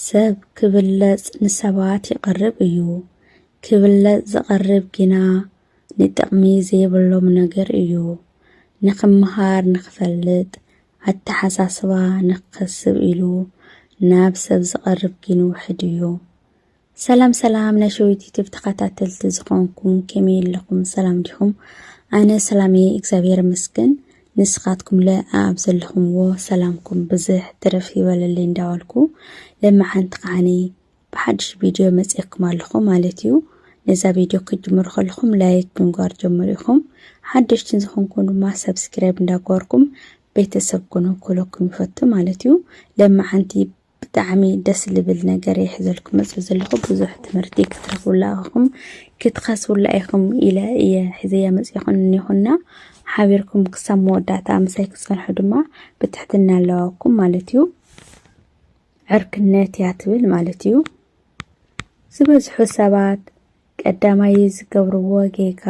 ሰብ ክብለጽ ንሰባት ይቐርብ እዩ፣ ክብለጽ ዝቐርብ ግና ንጥቕሚ ዘይብሎም ነገር እዩ። ንኽመሃር፣ ንኽፈልጥ፣ ኣተሓሳስባ ንኽከስብ ኢሉ ናብ ሰብ ዝቐርብ ግን ውሑድ እዩ። ሰላም ሰላም ናይ ሸዊት ዩቱብ ተኸታተልቲ ዝኾንኩም ከመይ ኣለኹም ሰላም ዲኹም ኣነ ሰላም እየ እግዚኣብሔር ይመስገን ንስኻትኩም ለ ኣብ ዘለኹምዎ ሰላምኩም ብዝሕ ትርፍ ይበለለይ እንዳበልኩ ለመሓንቲ ከዓኒ ብሓድሽ ቪድዮ መፅኤኩም ኣለኹ ማለት እዩ ነዛ ቪድዮ ክትጅምሩ ከለኹም ላይክ ብምግባር ጀምሩ ኢኹም ሓደሽትን ዝኾንኩም ድማ ሰብስክራይብ እንዳገበርኩም ቤተሰብ ኩኑ ክብለኩም ይፈቱ ማለት እዩ ለመሓንቲ ብጣዕሚ ደስ ልብል ነገር እየ ሒዘልኩም መፅእ ዘለኹ ብዙሕ ትምህርቲ ክትረኽቡላ ኢኹም ክትኸስቡላ ኢኹም ኢለ እየ ሒዘያ መፅእኹ እኒኹና ሓቢርኩም ክሳብ መወዳእታ ምሳይ ክፀንሑ ድማ ብትሕትና ኣለዋኩም ማለት እዩ ዕርክነት እያ ትብል ማለት እዩ ዝበዝሑ ሰባት ቀዳማይ ዝገብርዎ ጌጋ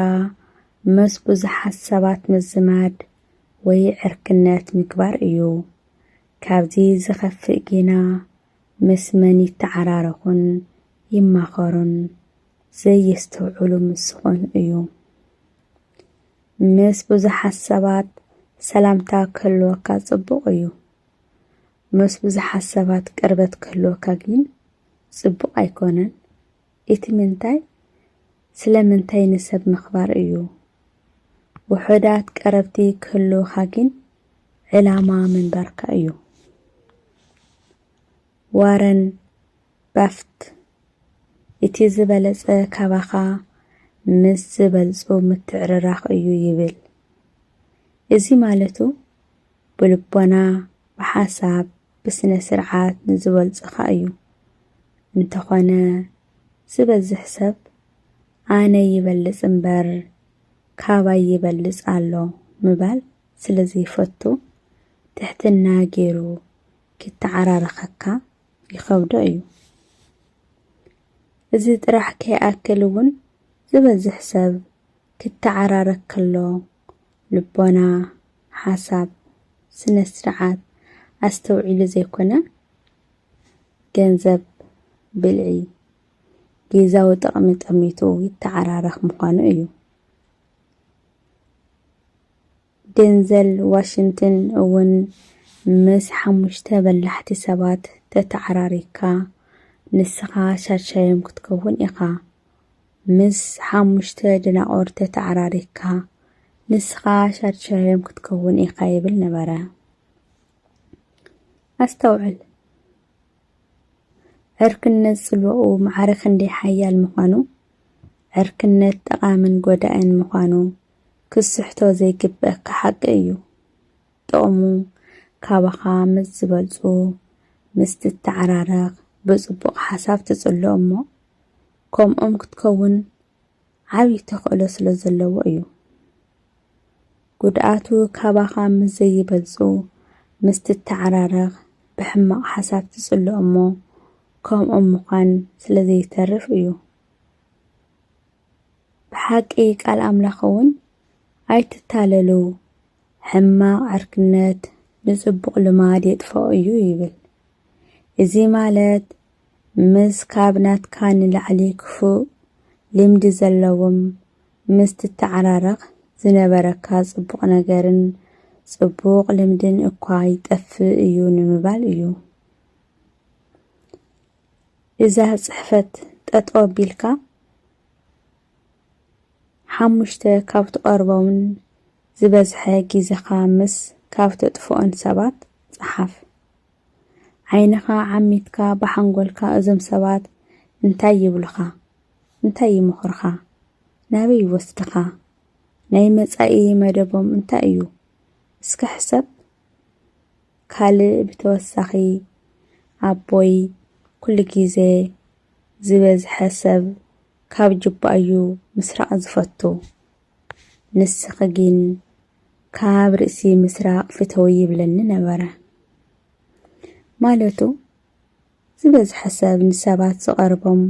መስ ብዙሓት ሰባት ምዝማድ ወይ ዕርክነት ምግባር እዩ ካብዚ ዝኸፍእ ጌና ምስ መን ይተዓራረኹን ይማኸሩን ዘየስተውዕሉ ምስ ዝኾኑ እዩ። ምስ ብዙሓት ሰባት ሰላምታ ክህልወካ ጽቡቕ እዩ። ምስ ብዙሓት ሰባት ቅርበት ክህልወካ ግን ጽቡቕ ኣይኮነን። ኢቲ ምንታይ ስለ ምንታይ ንሰብ ምክባር እዩ ውሑዳት ቀረብቲ ክህልውካ ጊን ዕላማ ምንባርካ እዩ ዋረን ባፍት ኢቲ ዝበለጸ ካባካ ምስ ዝበልጹ ምትዕርራክ እዩ ይብል እዚ ማለቱ ብልቦና ብሓሳብ ብስነ ስርዓት ንዝበልጽኻ እዩ እንተኾነ ዝበዝሕ ሰብ ኣነ ይበልጽ እምበር ካባይ ይበልጽ ኣሎ ምባል ስለዘይፈቱ ትሕትና ጌሩ ኪተዓራረኸካ ይኸብዶ እዩ። እዚ ጥራሕ ከይኣክል እውን ዝበዝሕ ሰብ ክተዓራረክ ከሎ ልቦና፣ ሓሳብ፣ ስነ ስርዓት ኣስተውዒሉ ዘይኮነ ገንዘብ፣ ብልዒ፣ ጊዛዊ ጥቕሚ ጠሚቱ ይተዓራረኽ ምዃኑ እዩ። ደንዘል ዋሽንትን እውን ምስ ሓሙሽተ በላሕቲ ሰባት ተተዓራሪካ ንስኻ ሻድሻዮም ክትከውን ኢኻ። ምስ ሓሙሽተ ደናቑር ተተዓራሪክካ፣ ንስኻ ሻድሻዮም ክትከውን ኢኻ ይብል ነበረ። ኣስተውዕል! ዕርክነት ጽልዋኡ ማዕረ ክንደይ ሓያል ምዃኑ፣ ዕርክነት ጠቓምን ጎዳእን ምዃኑ ክትስሕቶ ዘይግበኣካ ሓቂ እዩ። ጥቕሙ ካባኻ ምስ ዝበልጹ ምስ ትተዓራረኽ ብጽቡቕ ሓሳብ ትጽሎ እሞ፣ ከምኦም ክትከውን ዓብዪ ተኽእሎ ስለ ዘለዎ እዩ። ጉድኣቱ ካባኻ ምስ ዘይበልጹ ምስ ትተዓራረኽ ብሕማቕ ሓሳብ ትጽሎ እሞ ከምኦም ምዃን ስለ ዘይተርፍ እዩ። ብሓቂ ቃል ኣምላኽ እውን ኣይትታለሉ ሕማቕ ዕርክነት ንጽቡቕ ልማድ የጥፍኦ እዩ ይብል። እዚ ማለት ምስ ካብ ናትካ ንላዕሊ ክፉእ ልምዲ ዘለዎም ምስ ትተዓራረኽ ዝነበረካ ጽቡቕ ነገርን ጽቡቕ ልምድን እኳ ይጠፍእ እዩ ንምባል እዩ። እዛ ጽሕፈት ጠጠው ኣቢልካ ሓሙሽተ ካብ ትቐርቦምን ዝበዝሐ ግዜኻ ምስ ካብ ተጥፍኦን ሰባት ጸሓፍ። ዓይንኻ ዓሚትካ ብሓንጎልካ እዞም ሰባት እንታይ ይብሉኻ? እንታይ ይመኽሩኻ? ናበይ ይወስድኻ? ናይ መጻኢ መደቦም እንታይ እዩ? እስከ ሕሰብ። ካልእ ብተወሳኺ ኣቦይ ኩሉ ግዜ ዝበዝሐ ሰብ ካብ ጁባ እዩ ምስራቕ ዝፈቱ ንስኺ ግን ካብ ርእሲ ምስራቕ ፍተዊ ይብለኒ ነበረ። ማለቱ ዝበዝሐ ሰብ ንሰባት ዝቐርቦም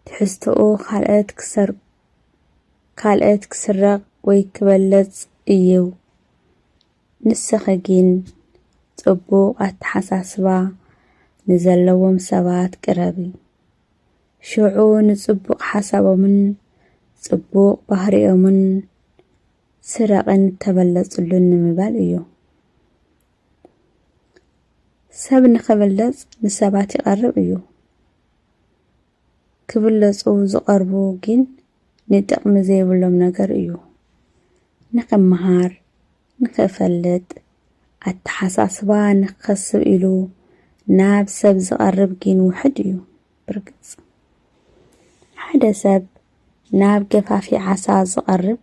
ትሕዝቶኡ ካልኦት ክሰር ካልኦት ክስረቕ ወይ ክበለጽ እዩ ንስኺ ጊን ጽቡቅ ኣተሓሳስባ ንዘለዎም ሰባት ቅረቢ ሽዑ ንጽቡቅ ሓሳቦምን ጽቡቅ ባህሪኦምን ስረቂን ተበለጽሉን ንምባል እዩ። ሰብ ንኽብለጽ ንሰባት ይቐርብ እዩ። ክብለጹ ዝቐርቡ ግን ንጥቕሚ ዘይብሎም ነገር እዩ። ንኽመሃር፣ ንኽፈልጥ፣ ኣተሓሳስባ ንኽኸስብ ኢሉ ናብ ሰብ ዝቐርብ ግን ውሑድ እዩ። ብርግጽ፣ ሓደ ሰብ ናብ ገፋፊ ዓሳ ዝቐርብ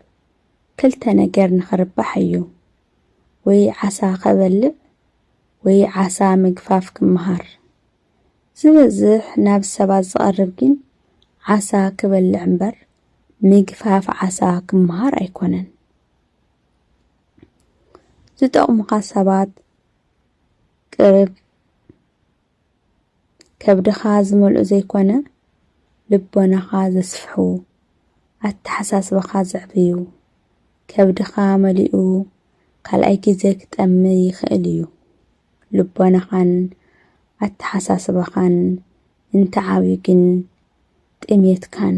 ክልተ ነገር ንኽርባሕ እዩ። ወይ ዓሳ ከበልዕ ወይ ዓሳ ምግፋፍ ክመሃር። ዝበዝሕ ናብ ሰባት ዝቐርብ ግን ዓሳ ክበልዕ እምበር ምግፋፍ ዓሳ ክመሃር ኣይኮነን። ዝጠቕሙኻ ሰባት ቅርብ ከብድኻ ዝመልኡ ዘይኮነ ልቦናኻ ዘስፍሑ ኣተሓሳስባኻ ዘዕብዩ ከብድኻ መሊኡ ካልኣይ ግዜ ክጠሚ ይኽእል እዩ። ልቦናኻን ኣተሓሳስባኻን እንተዓብዩ ግን ጥሜትካን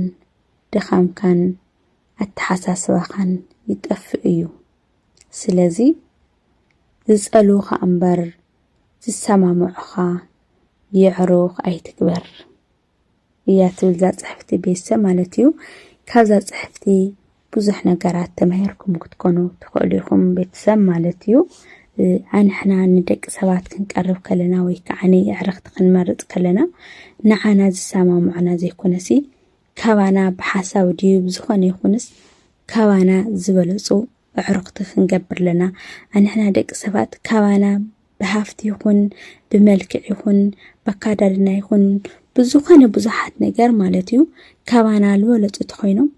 ድኻምካን ኣተሓሳስባኻን ይጠፍእ እዩ። ስለዚ ዝጸልዉኻ እምበር ዝሰማምዑኻ የዕሩኽ ኣይትግበር። እያ ትብል እዛ ጽሕፍቲ ቤተሰብ ማለት እዩ። ካብዛ ጽሕፍቲ ብዙሕ ነገራት ተማሂርኩም ክትኮኑ ትኽእሉ ኢኹም ቤተሰብ ማለት እዩ። ኣንሕና ንደቂ ሰባት ክንቀርብ ከለና ወይ ከዓ ንዕርኽቲ ክንመርፅ ከለና ንዓና ዝሰማምዑና ዘይኮነሲ ካባና ብሓሳብ ድዩ ብዝኾነ ይኹንስ ካባና ዝበለፁ ኣዕሩኽቲ ክንገብር ኣለና። ኣንሕና ደቂ ሰባት ካባና ብሃፍቲ ይኹን ብመልክዕ ይኹን በካዳድና ይኹን ብዝኾነ ብዙሓት ነገር ማለት እዩ ካባና ዝበለፁ ተኾይኖም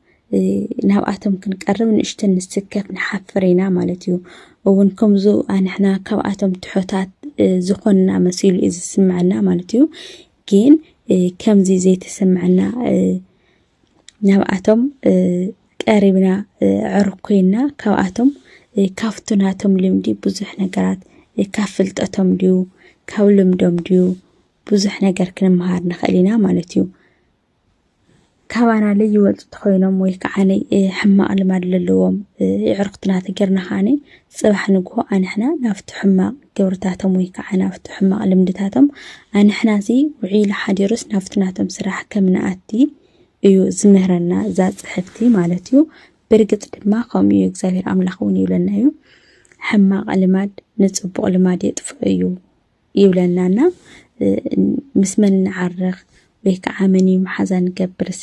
ናብኣቶም ክንቀርብ ንእሽተን ንስከፍ ንሓፍር ኢና ማለት እዩ እውን ከምዚ ኣንሕና ካብኣቶም ትሑታት ዝኾንና መሲሉ እዩ ዝስምዐና ማለት እዩ ግን ከምዚ ዘይተሰምዐና ናብኣቶም ቀሪብና ዕሩኽ ኮይና ካብኣቶም ካብቲ ናቶም ልምዲ ብዙሕ ነገራት ካብ ፍልጠቶም ድዩ ካብ ልምዶም ድዩ ብዙሕ ነገር ክንመሃር ንኽእል ኢና ማለት እዩ። ካባና ለይወልጡ ተኾይኖም ወይ ከዓ ሕማቕ ልማድ ለለዎም የዕሩኽትና ተገይርና ከዓኒ ጽባሕ ንግሆ ኣንሕና ናብቲ ሕማቕ ግብርታቶም ወይ ከኣ ናብቲ ሕማቕ ልምድታቶም ኣንሕናሲ ውዒሉ ሓዲሩስ ናብቲ ናቶም ስራሕ ከም ንኣቲ እዩ ዝምህረና እዛ ጽሕፍቲ ማለት እዩ። ብርግጽ ድማ ከምኡ እዩ እግዚኣብሔር ኣምላኽ እውን ይብለና እዩ ሕማቕ ልማድ ንጽቡቕ ልማድ የጥፍኦ እዩ ይብለናና ምስ መን ንዓርኽ ወይ ከዓ መን እዩ መሓዛ ንገብርሲ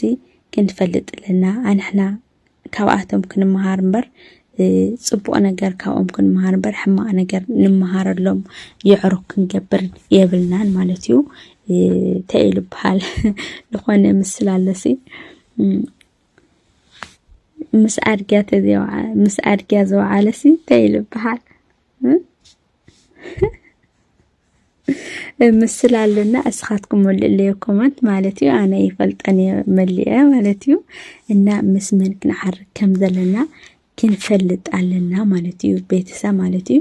ክንፈልጥ ኣለና ኣንሕና ካብኣቶም ክንመሃር እምበር ፅቡቕ ነገር ካብኦም ክንመሃር እምበር ሕማቕ ነገር ንምሃረሎም የዕሩኽ ክንገብር የብልናን ማለት እዩ እንታይ እዩ ዝበሃል ዝኾነ ምስል ኣለሲ ምስ ኣድጊያ ተዘዋ ምስ ኣድጊያ ዘውዓለሲ እንታይ እዩ ዝበሃል ምስል ኣሎና እስኻትኩም መልእለዮ ኮመንት ማለት እዩ ኣነ ይፈልጠን እየ መሊአ ማለት እዩ እና ምስ መን ክንዓርግ ከም ዘለና ክንፈልጥ ኣለና ማለት እዩ ቤተሰብ ማለት እዩ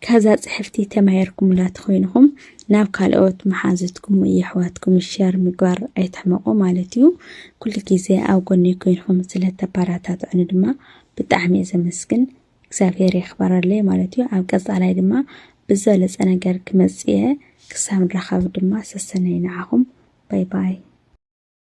ካዛ ፅሕፍቲ ተማሂርኩምላ ተኮይንኹም ናብ ካልኦት መሓዝትኩም የሕዋትኩም ሸር ምግባር ኣይትሕመቑ ማለት እዩ ኩሉ ግዜ ኣብ ጎኒ ኮይንኹም ስለተበረታትዑኒ ድማ ብጣዕሚ እየ ዘመስግን እግዚኣብሔር የኽበረለይ ማለት እዩ ኣብ ቀፃላይ ድማ ብዝበለፀ ነገር ክመፅእ እየ ክሳብ ንራኸብ ድማ ሰሰነይ ንዓኹም ባይ ባይ